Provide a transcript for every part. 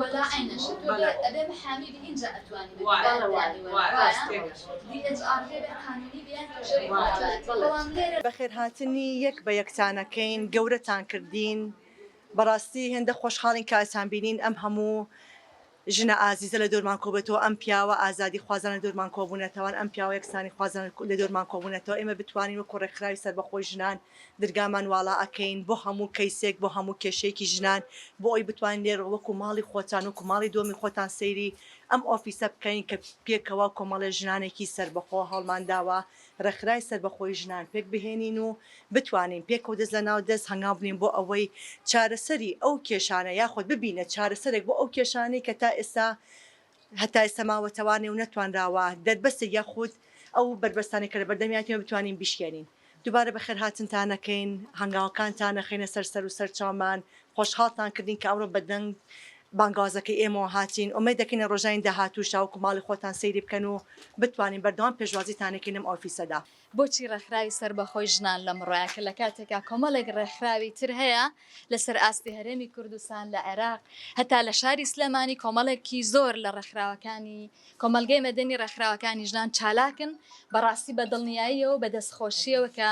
وەلا ئەی نەشە تۆ بێ ئەبێ محامی بی ئینجا ئەتوانی بە دووبارە دانی وەلا وایە DHR هەیە بێ قانونی بی یان توێژەری منداڵایەتی بەڵام لێرە بەخێرهاتنی یەک بە یەکتان ئەکەین گەورەتان کردین بەڕاستی هێندە خۆشحاڵین کە ئەتان بینین ئەم هەموو ژنە ئازیزە لە دۆرمان کۆبێتەوە ئەم پیاوە ئازادی خوازان لە دۆرمان کۆبوونەتەوان ئەم پیاوە یەکسانی خوازان لە دۆرمان کۆبوونەتەوە ئێمە بتوانین وەکو ڕێکخراوی سەربەخۆی ژنان درگامان واڵا ئەکەین بۆ هەموو کەیسێک بۆ هەموو کێشەیەکی ژنان بۆ ئەوەی بتوانین لێرە وەکو ماڵی خۆتان وەکو ماڵی دۆمی خۆتان سەیری ئەم ئۆفیسە بکەین کە پێکەوە کۆمەڵێ ژنانێکی سەربەخۆ هەوڵمان داوە ڕێکخرای سەربەخۆی ژنان پێک بهێنین و بتوانین پێکەوە دەست لە ناو دەست هەنگاو بنێین بۆ ئەوەی چارەسەری ئەو کێشانە یاخود ببینە چارەسەرێک بۆ ئەو کێشانەی کە تا ئێستا هەتا ئێستا ماوەتەوانێ و نەتوانراوە دەربەستێک یاخود ئەو بەربەستانەی کە لەبەردەمیانتینە بتوانین بیشکێنین. دووبارە بەخێرهاتنتان ئەکەین، هەنگاوەکانتان ئەخەینە سەر سەر و سەرچاومان، خۆشحاڵتان کردین کە ئەمڕۆ بە دەنگ بانگەوازەکەی ئێمەوە هاتین، ئومێد دەکەین لە ڕۆژانی داهاتووش تاوەکو ماڵی خۆتان سەیری بکەن و بتوانین بەردەوام پێشوازیتان ئەکەین لەم ئۆفیسەدا. بۆچی ڕێکخراوی سەربەخۆی ژنان لەمڕۆیە کە لە کاتێکا کۆمەڵێک ڕێکخراوی تر هەیە لەسەر ئاستی هەرێمی کوردستان لە عێراق هەتا لە شاری سلێمانی کۆمەڵێکی زۆر لە ڕێکخراوەکانی کۆمەڵگەی مەدەنی ڕێکخراوەکانی ژنان چالاکن بەڕاستی بە دڵنیاییەوە بە دەست خۆشیەوە کە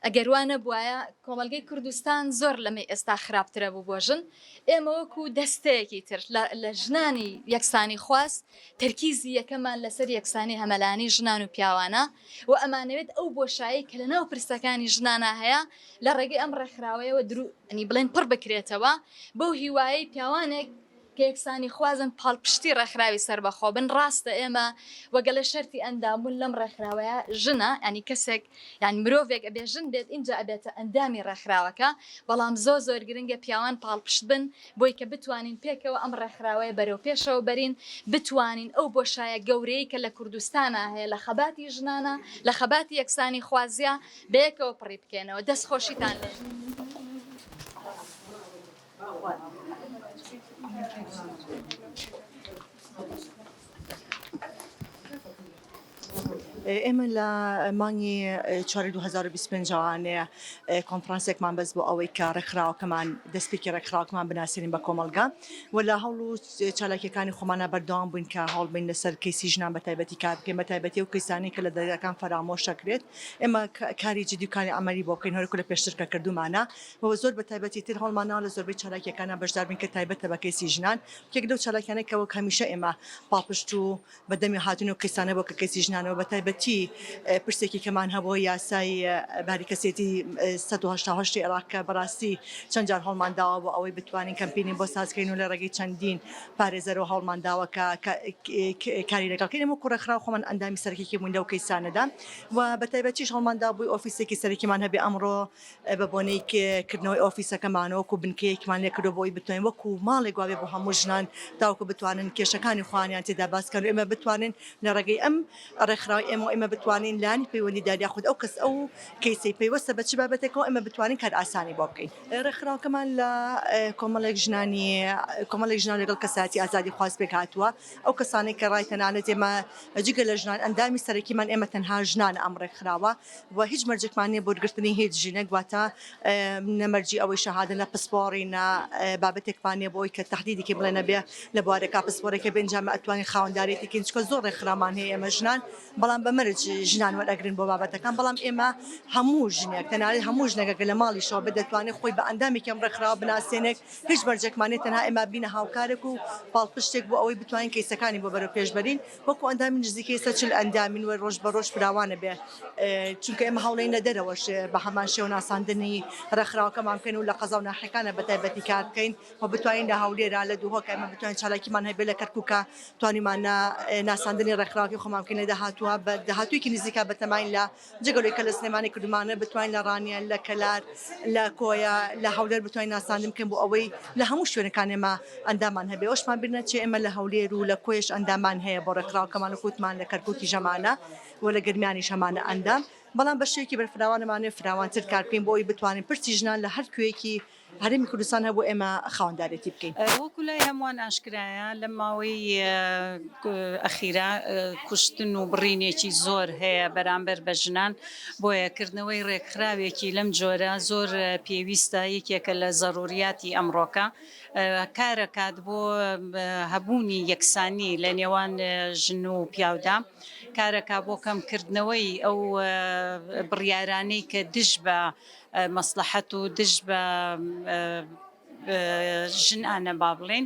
ئەگەر وا نەبوایە کۆمەڵگەی کوردستان زۆر لەمەی ئێستا خراپترە بوو بۆ ژن ئێمە وەکو دەستەیەکی تر لە ژنانی یەکسانی خواست تەرکیزی یەکەمان لەسەر یەکسانی هەمەلانی ژنان و پیاوانە و ئەمانەوێت ئەو بۆشایەی کە لەناو پرسەکانی ژنانا هەیە لە ڕێگەی ئەم ڕێکخراوەیەوە دروو انی بڵێن پڕ بکرێتەوە بەو هیوایەی پیاوانێک کە یەکسانیخوازن پاڵپشتی ڕێکخراوی سەربەخۆ بن ڕاستە ئێمە وە گەلێ شەرتی ئەندام بوون لەم ڕێکخراوەیە ژنە یانی کەسێک یان مرۆڤێک ئەبێ ژن بێت ئینجا ئەبێتە ئەندامی ڕێکخراوەکە بەڵام زۆر زۆر گرنگە پیاوان پاڵپشت بن بۆی کە بتوانین پێکەوە ئەم ڕێکخراوەیە بەرەو پێشەوە بەرین، بتوانین ئەو بۆشایە گەورەیەی کە لە کوردستانا هەیە لە خەباتی ژنانا، لە خەباتی یەکسانیخوازیا بەیەکەوە پڕی بکەینەوە. دەست خۆشیتان لێ. ئێمە لە مانگی چواری دوو هەزار و بیست و پێنج ەوانەیە کۆنفرانسێکمان بەس بۆ ئەوەی کە ڕێکخراوەکەمان دەستپێکی ڕێکخراوەکەمان بناسێنین بە کۆمەڵگا و لە هەوڵ و چالاکیەکانی خۆمانە بەردەوام بووین کە هەوڵ بین لەسەر کەیسی ژنان بە تایبەتی کار بکەین بە تایبەتی و کەیسانی کە لە دەرگاکان فەرامۆش دەکرێت ئێمە کاری جدی و کاری عملی بۆ بکەین هەرکو لە پێشتر کە کردومانە و زۆر بە تایبەتی تر هەوڵمانەوە لە زۆربەی چالاکیەکانە بەشدار بین کە تایبەتە بە کەیسی ژنان یەک لەو چالاکیانەی کە وەک هەمیشە ئێمە پاڵپشت و بە دەمی هاتن و قیسانە بۆ کە کەسی ژنانەوە بە تایبەتی پرسێکی کەمان هەبووە یاسای باری کەسێتی 1970 عێراق کە بەڕاستی چەند جار هەڵمان داوە بۆ ئەوەی بتوانین کەمپینی بۆ سازکەین و لە ڕێگەی چەندین پارێزەرەوە هەڵمان داوە کە کاری لەگەڵکەین و کوڕەخرا خۆمان ئەندامی سەرکیکی بوون لەو کەیسانەدا و بە تایبەتیش هەڵماندا بووی ئۆفیسێکی سەرکیمان هەبێ ئەمڕۆ بە بۆنەی کردنەوەی ئۆفیسەکەمان وەکو بنکەیەکمان لێ کردووە بۆ ئەوەی بتوانین وەکو ماڵێک وا بێ بۆ هەموو ژنان تاوەکو بتوانن کێشەکانی خۆیانیان تێدا باس بکەن و ئێمە بتوانین لە ڕێگەی ئەم ڕێکخراوەی ئێمەوە ئێمە بتوانین لایەنی پەیوەندیدار یاخود ئەو کەس ئەو کەیسەی پەیوەستە بە چ بابەتێکەوە ئێمە بتوانین کارئاسانی بۆ بکەین. ڕێکخراوەکەمان لە کۆمەڵێک ژنانی کۆمەڵێک ژنان لەگەڵ کەسایەتی ئازادیخواز پێکهاتووە ئەو کەسانەی کە ڕای تەنانەت ئێمە جگە لە ژنان ئەندامی سەرەکیمان ئێمە تەنها ژنانە ئەم ڕێکخراوە. و هیچ مەرجێکمان نیە بۆ گرتنی هیچ ژینەک واتە نە مەرجی ئەوەی شەهادە نە پسپۆڕی نە بابەتێکمان نیە بۆی کە تهدیدی کە بڵێ نەبێ لە بوارێکا پسپۆرێکە بێ ئینجا مە ئەتوانین خاوەندارێتی کەین چکە زۆر ڕێکخراومان هەیە ئێمە ژنان بەڵام بە مەرج ژنان وەرئەگرن بۆ بابەتەکان بەڵام ئێمە هەموو ژنێک تەنانەت هەموو ژنەکە کە لە ماڵیشەوە بێ دەتوانێت خۆی بە ئەندامێکی ئەم ڕێکخراوە بناسێنێت هیچ مەرجێکمان نیە تەنها ئێمە بینە هاوکارێک و پاڵپشتێک بۆ ئەوەی بتوانین کەیسەکانی بۆ بەرەوپێش بەرین وەکو ئەندامی نزیکەی سەد چل ئەندامین و رۆژ بە رۆژ فراوان ئەبێ چونکە ئێمە هەوڵین لە دەرەوەش بە هەمان شێوە ناساندنی رێکخراوەکەمان بکەین و لە قەزا و ناحیەکانە بە تایبەتی کار بکەین و بتوانین لە هەولێرا لە دهۆک ئێمە بتوانین چالاکیمان هەبێ لە کەرکوکا توانیمانە ناساندنی رێکخراوەکەی خۆمان بکەین لە داهاتووە بە داهاتوویەکی نزیکا بەتەماین لە جگە لەوەی کە لە سلێمانی کردمانە بتوانین لە ڕانیە لە کەلار لە کۆیە لە هەولێر بتوانین ناساندن بکەین بۆ ئەوەی لە هەموو شوێنەکان ئێمە ئەندامان هەبێ ئەوشمان بیر نەچێ ئێمە لە هەولێر و لە کۆیەش ئەندامان هەیە بۆ ڕێکخراوەکەمان و کوتمان لە کەرکوکی ژەمانە و لە گەرمیانیش هەمانە ئەندام بەڵام بە شێوەیەکی بەرفراوانەمانێ فراوانتر کار بکەین بۆ ئەوی بتوانین پرسی ژنان لە هەر کوێیەکی هەرێمی کوردستان هەبوو ئێمە خاوەندارێتی بکەین. وەکو لای هەمووان ئاشکرایە لەم ماوەی ئەخیرا کوشتن و بڕینێکی زۆر هەیە بەرامبەر بە ژنان، بۆیە کردنەوەی رێکخراوێکی لەم جۆرە زۆر پێویستە، یەکێکە لە زەروریاتی ئەمڕۆکە، کارەکات بۆ هەبوونی یەکسانی لە نێوان ژن و پیاودا، کارەکا بۆ کەمکردنەوەی ئەو بڕیارانەی کە دژ بە. مەسڵەحەت و دژ بە ژن انە با بڵێین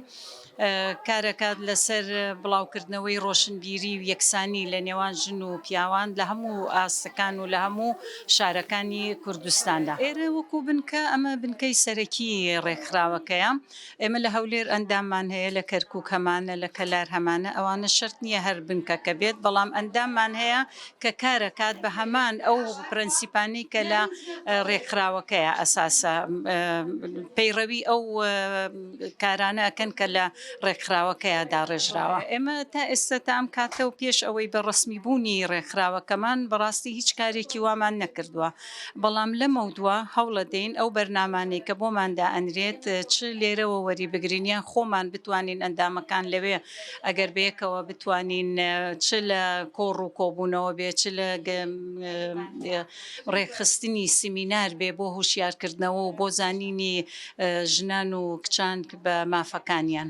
کارەکات لەسەر بڵاوکردنەوەی ڕۆشنبیری و یەکسانی لە نێوان ژن و پیاوان لە هەموو ئاستەکان و لە هەموو شارەکانی کوردستاندا ئێرە وەکو بنکە ئەمە بنکەی سەرەکی ڕێکخراوەکەیە. ئێمە لە هەولێر ئەنداممان هەیە، لە کەرکووک هەمانە، لە کەلار هەمانە، ئەوانە شەرت نییە هەر بنکەکە بێت، بەڵام ئەنداممان هەیە کە کارەکات بە هەمان ئەو پرەنسیپانەی کە لە رێکخراوەکەیە ئەساسە پەیڕەوی ئەو کارانە ئەکەن کە لە رێکخراوەکەیە داڕێژراوە. ئێمە تا ئێستا تا ئەم کاتە و پێش ئەوەی بە رەسمی بوونی رێکخراوەکەمان بەڕاستی هیچ کارێکی وامان نەکردووە. بەڵام لەمەودوا هەوڵەدەین ئەو بەرنامانەی کە بۆمان دائەنرێت چ لێرەوە وەریبگرین یان خۆمان بتوانین ئەندامەکان لەوێ ئەگەر بەیەکەوە بتوانین چ لە کۆڕ و کۆبوونەوە بێ چ لە ڕێکخستنی سیمینار بێ بۆ هوشیارکردنەوە و بۆ زانینی ژنان و کچان بە مافەکانیان.